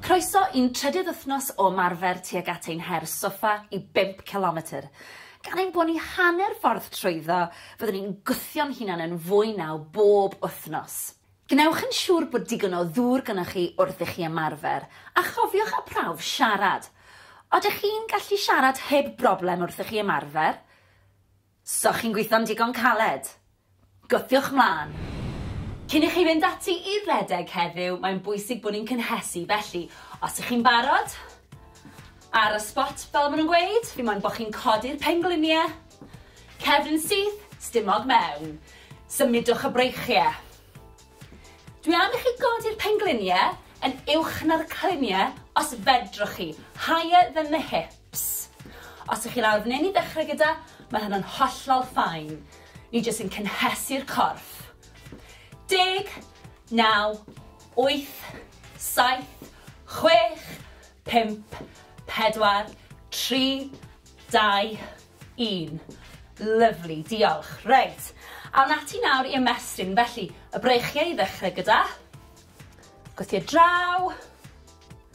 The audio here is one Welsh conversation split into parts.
Croeso i'n trydydd wythnos o ymarfer tuag at ein her soffa i bump cilometr. Gan ein bod ni hanner ffordd trwyddo, fyddwn ni'n gwthio'n hunan yn fwy naw bob wythnos. Gwnewch yn siŵr bod digon o ddŵr gynoch chi wrth i chi ymarfer, a chofiwch â prawf siarad. Odych chi'n gallu siarad heb broblem wrth i chi ymarfer? So chi'n gwitho'n digon caled? Gwthiwch 'mlan! Cyn i chi fynd ati i redeg heddiw, mae'n bwysig bod ni'n cynhesu, felly, os y'ch chi'n barod, ar y spot fel ma' nhw'n gweud, fi moyn bo' chi'n codi'r penglinie, cefn yn syth, stumog mewn. Symudwch y breichie. Dwi am i chi godi'r penglinie yn uwch na'r clinie os fedrwch chi, higher than the hips. Ps. Os ych chi lawr f'nyn i ddechrau gyda, mae hynna'n hollol fine. Ni jyst yn cynhesu'r corff. Deg, naw, wyth, saith, chwech, pump, pedwar, tri, dau, un. Lyfli, diolch. Reit, awn ati nawr i ymestyn. Felly, y breichiau i ddechrau gyda. Gwthio draw.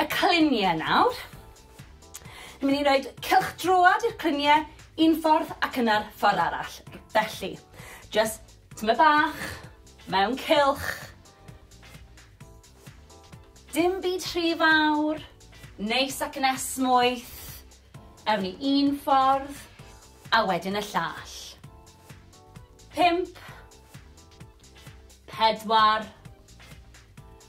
y clunie nawr. Ni'n mynd i roid cylchdroad i'r clunie un ffordd ac yna'r ffordd arall. Felly, jyst tymed bach, mewn cylch. Dim byd rhy fawr, neis ac yn esmwyth. Ewn ni un ffordd, a wedyn y llall. Pimp, pedwar,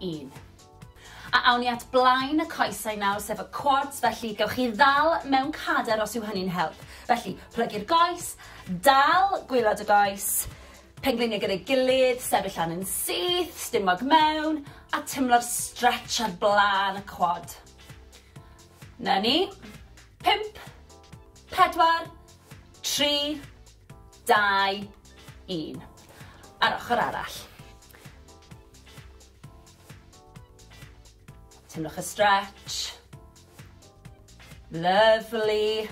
un. A awn ni at blaen y coesau nawr, sef y quads, felly gewch chi ddal mewn cader os yw hynny'n help. Felly, plygu'r goes, dal gwylod y goes, pengliniau gyda'i gilydd, sefyll lan yn syth, stumog mewn, a tymlo'r stretch ar blaen y quad. Na ni. Pimp, pedwar, tri, dau, un. A'r ochr arall. Teimlwch y stretch. Lovely.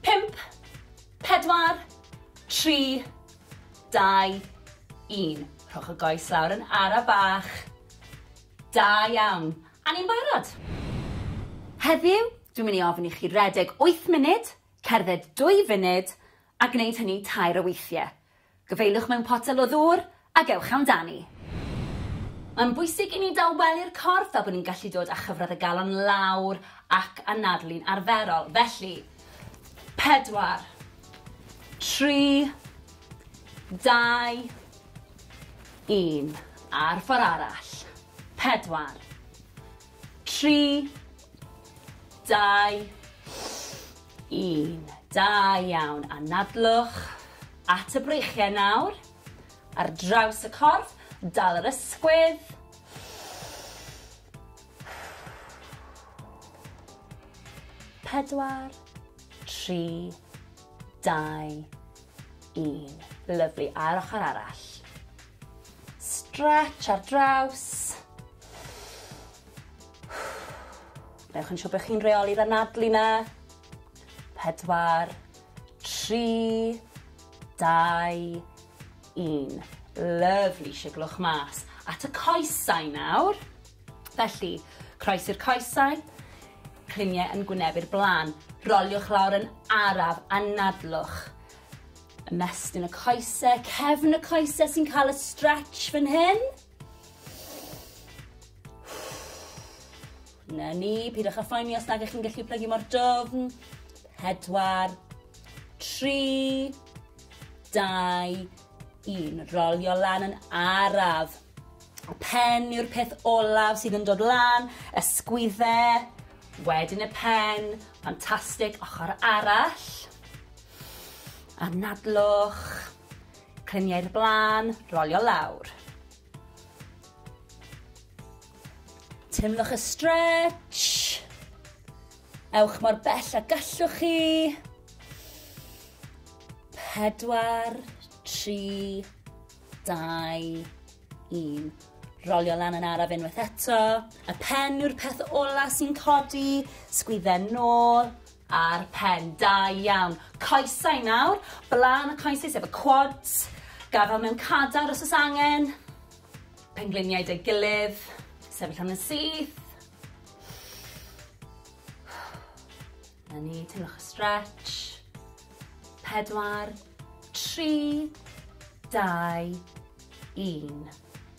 Pimp, pedwar, tri, dau, un. Rhowch y goes lawr yn ara bach. Da iawn. A ni'n barod. Heddiw, dwi'n mynd i ofyn i chi redeg 8 munud Cerdded dwy funud, a gwneud hynny tair o weithie. Gyfeiliwch mewn potel o ddŵr ac ewch amdani. Mae'n bwysig i ni dawelu'r corff fel bod ni'n gallu dod â chyfradd y galon lawr ac anadlu'n arferol. Felly, pedwar, tri, dau, un. A'r ffor' arall. Pedwar. 3, 2, 1. Da iawn. Anadlwch at y breichiau nawr. Ar draws y corff, dal yr ysgwydd. Pedwar, tri, dau, Un. Lyfli, a'r ochr arall. Stretch ar draws. Newch yn siŵr bod chi'n reoli'r anadlu na. Pedwar, tri, dau, un. Lyfli, siglwch mas. At y coesau nawr. Felly, croesi'r coesau, cliniau yn gwynebu'r blaen, roliwch lawr yn araf, anadlwch. Ymestyn y coesau, cefn y coesau sy'n cael y stretch fan hyn. Na ni, pidwch â phoeni os nag ych chi'n gallu plygu mor dofn. Pedwar, tri, dau, 1. Rolio lan yn araf. Pen yw'r peth olaf sydd yn dod lan, ysgwydde, wedyn y pen, ffantastig, ochr arall. Anadlwch, clyniau'r blaen, rolio lawr. Teimlwch y stretch. Ewch mor bell a gallwch chi. Pedwar, tri, dau, un. Rolio lan yn araf unwaith eto. Y pen yw'r peth ola sy'n codi. Sgwydden nôl a'r pen. Da iawn. Coesau nawr. Blaen y coesau sef y quads. Gafel mewn cadar os oes angen. Pengliniau dy gilydd. Sefyll am yn syth. Na ni, teimlwch y stretch. Pedwar, tri, dau, un.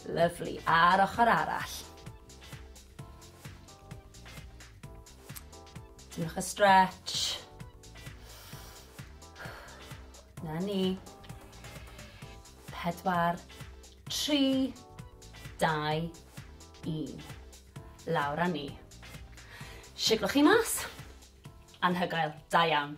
Lyflu, a'r ochr arall. Teimlwch y stretch. Na ni. Pedwar, Tri, dau, un. Lawr a ni. Siglo chi mas. Anhygoel. Da iawn.